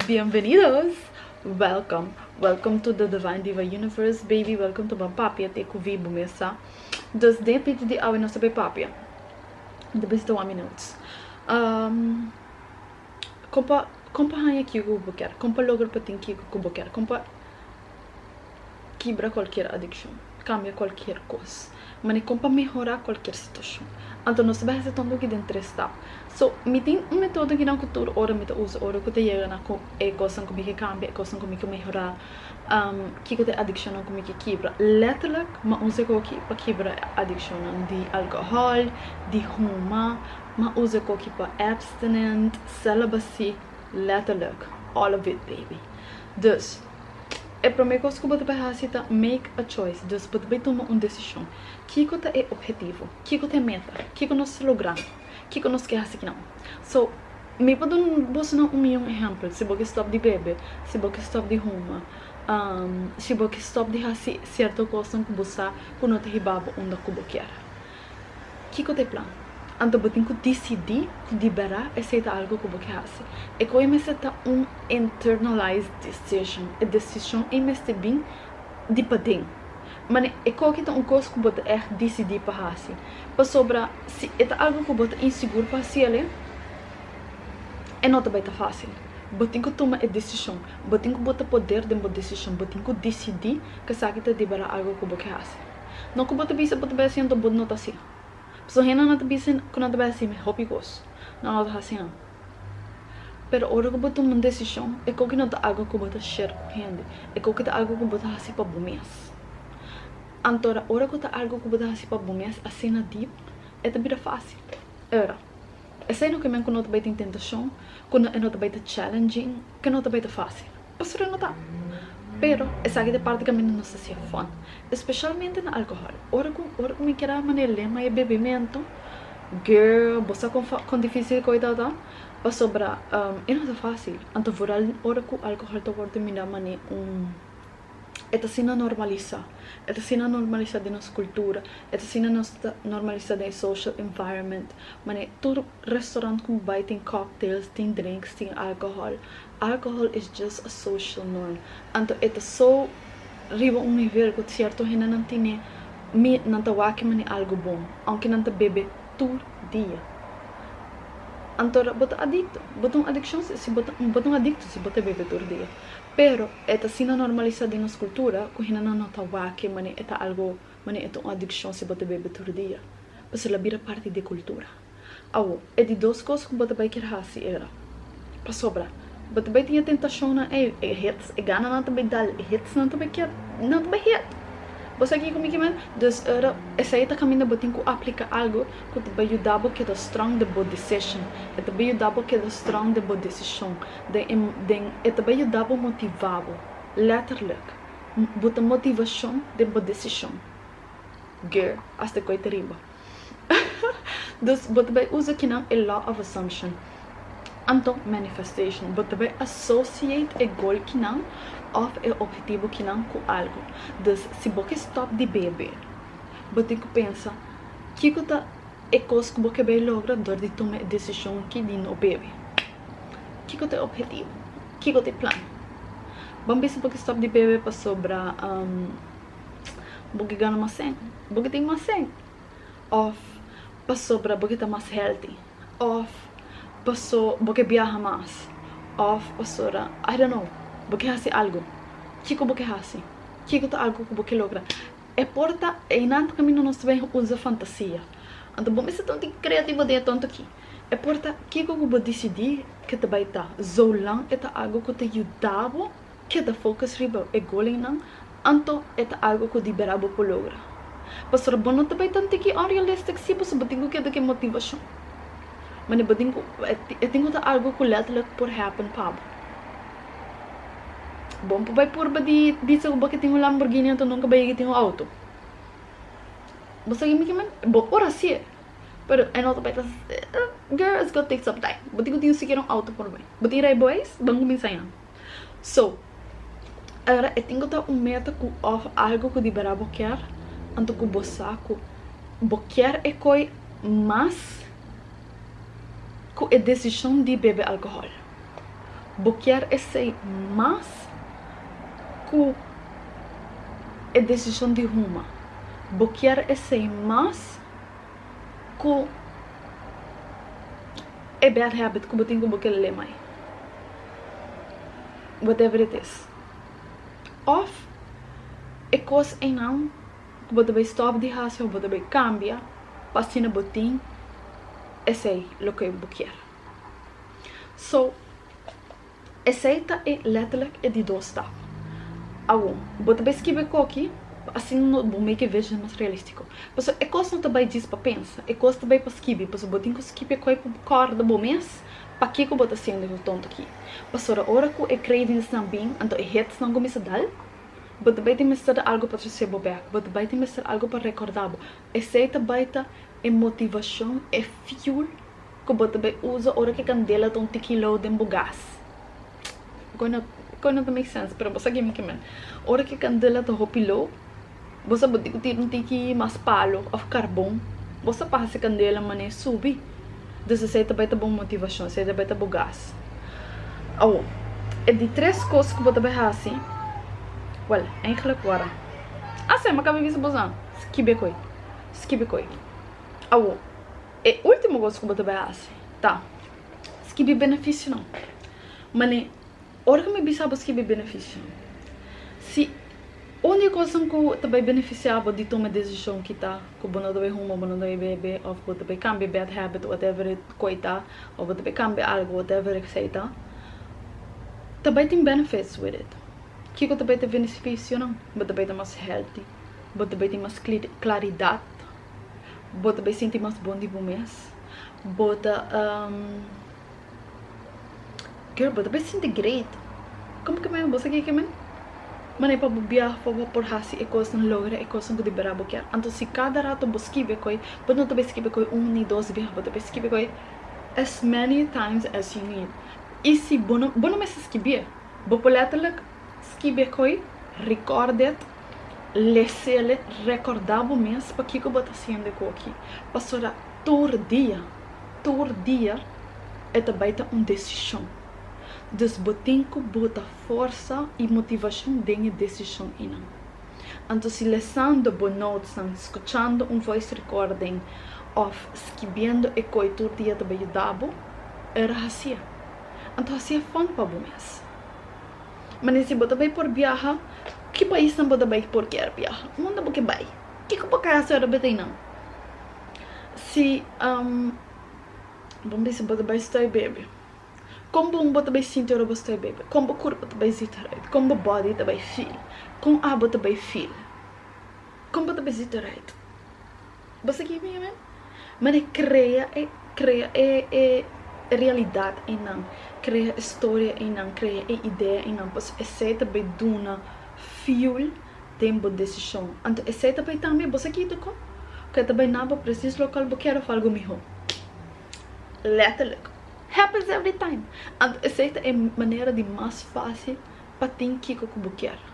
Bienvenidos! Welcome! Welcome to the Divine Diva Universe, baby! Welcome to Ban Papia te cu wie bo mes sa. Dus den pit di awe nos ta bay papia. De bisita one minut. Um, compa, compa haya kico cu bo ker. Compa logra pa tin kico cu bo ker. Compa... Kibra kualker adikshon. Kambia kualker kos. Manera kon pa mehorá kualker situashon. Anto nos ta bin hasi tonto aki den tres stap. So, mi tin un metodo akinan ku tur ora mi ta usa ora ku ta yega na ku e kosnan ku mi ke kambia, e kosnan ku mi ke mehorá. Kiko ta e adikshonnan ku mi ke kibra? Lèterlik mi a usa e koki pa kibra e adikshonnan di alkohòl, di huma. Mi a usa e koki pa abstinent, celibacy, lèterlik, all of it baby. Dus. E promé kos ku bo ta bay hasi ta make a choice, dus bo ta bay tuma un desishon. Kiko ta e ophetivo? Kiko ta e meta? Kiko nos ta logrando? Kiko nos ke hasi ki nan? So, mi por duna bosonan un mion ehèmpel, si bo ke stòp di bebe, si bo ke stòp di huma, si bo ke stòp di hasi sierto kosnan ku bo sa ku no ta hiba bo unda ku bo kier. Kiko ta e plan? Anto bo tin ku disidí ku di bera esei ta algu ku bo ke hasi. E koe mester ta un internalized decision. E desishon ei mester bin di paden. Manera e koki ta un kos ku bo ta ègt disidí pa hasi. Pasobra si e ta algu ku bo ta insigur pa hasi al'e, e no ta bai ta fásil. Bo tin ku tuma e desishon. Bo tin ku bota poder den bo desishon. Bo tin ku disidí ku esaki ta di bera algu ku bo ke hasi. No ku bo ta bisa bo ta bai hasi anto bo no ta hasi. Paso hende no ta bisa ku no ta bai hasi mi hopi kos, no no ta hasi nan. Pero ora ku bo tuma un desishon e koki no ta ago ku bo ta share ku hende, e koki ta ago ku bo ta hasi pa bo mes. Antora ora ku ta ago ku bo ta hasi pa bo mes asina deep e ta bira fasil. Ora esei no ke men ku no ta bai tin tentashon, ku e no ta bai ta challenging, ke no ta bai ta fasil. Pastor a nota, Pero, esaki ta e parti kaminda nos ta siña fon, espeshalmente na alkohòl. Ora ku ora ku mi keda a manera lema e bebimentu, girl, bo sa kon fa kon difísil ku ita ta? Pasobra e no ta fásil. Anto vural ora ku alkohòl ta wòrdu mira manera un e ta asina normalisá. E ta asina normalisá den nos kultura, e ta asina nos normalisá den e social environment. Manera tur restorant ku bo bai tin cocktails, tin drinks, tin alkohòl. Alcohol is just a social norm. Anto e ta so riba un nivel cu cierto hende nan tine mi nan ta wak kimani algo bon, aunke nan ta bebe tur dia. Anto bo ta adicto. Bo ta un adiccion si si bo ta bo ta un adicto si bo ta bebe tur dia. Pero e ta asina normalisa den nos cultura cu hende nan no ta wak kimani e ta algo mani e ta un adiccion si bo ta bebe tur dia. Pasobra a bira parti di cultura. Awo, e di dos kos ku bo ta bai kier hasi era, Pasobra bo ta bai tin e tentashonnan ei, e hits, e gananan ta bai dal, e hitsnan ta bai kier, nan ta bai hit. Bo sa kiko mi ke men? Dus era, esei ta kaminda bo tin ku aplika algu ku ta bai yuda bo keda strong den bo decision. E ta bai yuda bo keda strong den bo desishon. Den e, den, e ta bai yuda bo motiva bo. Letterlijk. Bo ta motivashon den bo desishon. Gear, asta e koi ta riba. Dus bo ta bai usa kinan e law of assumption, anto manifestation. Bo ta bai associate e gol kinan of e ophetibo kinan ku algu. Dus si bo ke stop di bebe, bo tin ku pensa, Kiko ta e kos ku bo ke bai logra dor di tuma e desishon aki di no bebe? Kiko ta e ophetibo? Kiko ta e plan? Bo a bisa bo ke stop di bebe pasobra. bo ke gana mas sèn, bo ke tin mas sèn òf pasobra bo ke ta mas hèlti òf paso bo ke biaha mas òf pasobra ai don no bo ke hasi algu kiko bo ke hasi kiko ta algu ku bo ke logra e por ta e nan ta kaminda nos ta bini usa fantasia anto bo mester ta un tiki kreativo den e tonto aki e por ta kiko ku bo disidi ke ta bai ta zolang e ta algu ku ta yuda bo. Keda focus riba e golennan, anto e ta algo cu di bera bo por logra. Pastor bo no ta bay tan tiki unrealistic si pasobra bo tin cu keda cu e motivacion. Mane bo tin cu e tin cu ta algo cu letterlijk por happen pa bo. Bo no por bay purba di bisa cu bo ke tin un Lamborghini anto nunca bay yega tin un auto. Bo sa kimen kimen? Bo por hacier, pero e no ta bay ta girl it's gonna take some time. Bo tin cu tin sikiera un auto por bay. Bo tin ray bo eis? Ban cuminsa yami. So, ayora e tin ku ta un meta ku òf algu ku di berdad bo kier, anto ku bo sa ku bo kier e koi mas ku e desishon di bebe alkohòl. Bo kier esei mas ku e desishon di huma. Bo kier esei mas. cu e bad habit cu bo tin cu bo kel le mai whatever it is of e cos eynan cu bo ta bay stop di haci of bo ta bay cambia pa asina bo tin esey loke bo kier so Esei ta e letterlijk e di dos staf. Awor, bo ta bai skibi e koki, pa asina no bo make e vision mas realistiko. Paso e kos no ta bai djis pa pensa, e kos ta bai pa skibi, paso bo tin ku skibi e koi pa bo kòrda bo mes paki ku bo ta hasiendo esaki tonto aki. Pasora ora ku e cravings-nan bin, anto e hits-nan kuminsa dal. Bo ta bai tin mester di algu pa trese bo bek, bo ta bai tin mester algu pa rekòrda bo. Esei ta bai ta e motivashon, e fuel Cu bo ta bay usa ora cu candela ta un tiki low den bo gas. Goe no goe no ta make sense pero bo sa guime ki men. Ora cu candela ta hopi low bo sa bo tin cu tira un tiki mas palo of carbon bo sa pa haci candela mane subi dus esey ta bay ta bo motivacion esey ta bay ta bo gas. Awo e di tres cos cu bo ta bay haci wel eindelijk wara a sema ca mi bisa bosa skibe coe skibe coe awo E ultimo cos cu bo ta bay haci ta skibi beneficionan. Mane, ora cu mi bisa bo skibi beneficionan, si un di e cosnan cu ta bay beneficia bo di tuma e decision kita cu bo no ta bay huma, bo no ta bay bebe, of bo ta bay cambia e bad habit, whatever e coi ta, of bo ta bay cambia algo, whatever esey ta, ta bay tin benefits with it. Kico ta bay ta beneficionan? Bo ta bay ta mas healthy, bo ta bay tin mas claridad. Bo ta bai sinti mas bon di bo mes. Bo ta um, girl, bo ta bai sinti great. Como que men? Bo sa kiko men? Manera pa bo biaha, pa bo por haci e cosnan, logra e cosnan cu di berdad bo kier. Anto si cada rato bo skibbe koe, bo no ta bai skibbe koe un ni dos biaha. Bo ta bai skibbe koe as many times as you need. Y si bo no, bo no mester skibbe. Bo por letterlijk skibbe koe, record it. Lesele, Rekordá bo mes pakiko bo ta hasiendo e ku aki. Pasobra tur dia, tur dia e ta bai ta un desishon. Dus bo tin ku bota forsa i motivashon den e desishon einan. Anto si lesando bo notesnan, skuchando un voice recording òf skibiendo e koi tur dia ta bai yuda bo, e ra hasié. Anto hasié fon pa bo mes. Manera si bo ta bay por biaha ki pais nan bo ta bay por kier biaha unda bo ke bay kiko bo kasa ora bo ta inan si bo bisa bo ta bay stay bebe kon bon bo ta bay sinti ora bo stay bebe kon bo kurpo ta bay zit rayt kon bo body ta bay feel kon abo ta bay feel kon bo ta bay zit rayt. Bo sigui mi amen? Mane krea e krea e e realidat einan, krea e storia einan, krea e idea einan, pasobra esei ta bay duna fuel den bo decision. Anto esei ta bay tambe bo sigui doko cu e ta bay na bo precies local bo kier of algo miho? Letterlijk. Happens every time. Anto esei ta e manera di mas facil pa tin kico cu bo kier.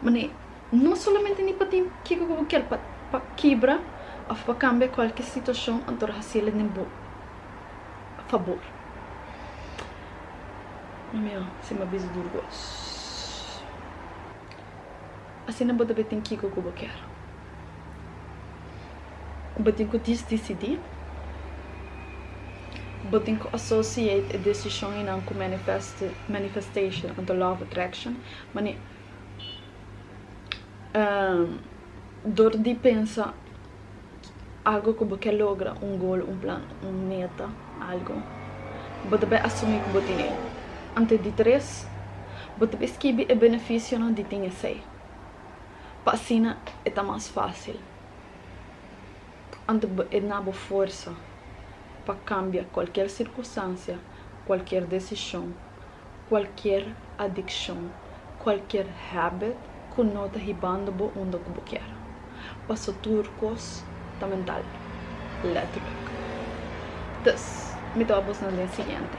Mane, no solamente ni pa tin kiko ku bo kier pa pa kibra of pa kambia kualke situashon anto hasil'e den bo fabor. Mi mihó si m'a bisa duru ku os. Asina bo ta bin tin kiko ku bo kier. Bo tin ku dis disidí. Bo tin ku associate e desishon einan ku manifest manifestation anto law of attraction. Mani, dor di pensa algo ku bo ke logra, un gol, un plan, un meta, algo, bo ta bai asumí ku bo tin e. Ante di tres, bo ta bai skibi e benefisionan di tin esei, pa asina e ta mas fásil ante bo e na bo forsa pa kambia kualker sirkunstansia, kualker desishon. Cualkier adiccion, cualkier habit cu no ta hibando bo unda cu bo kier. Paso tur cos ta mental, letterlijk. Dus, mi ta wak bosnan den siguiente.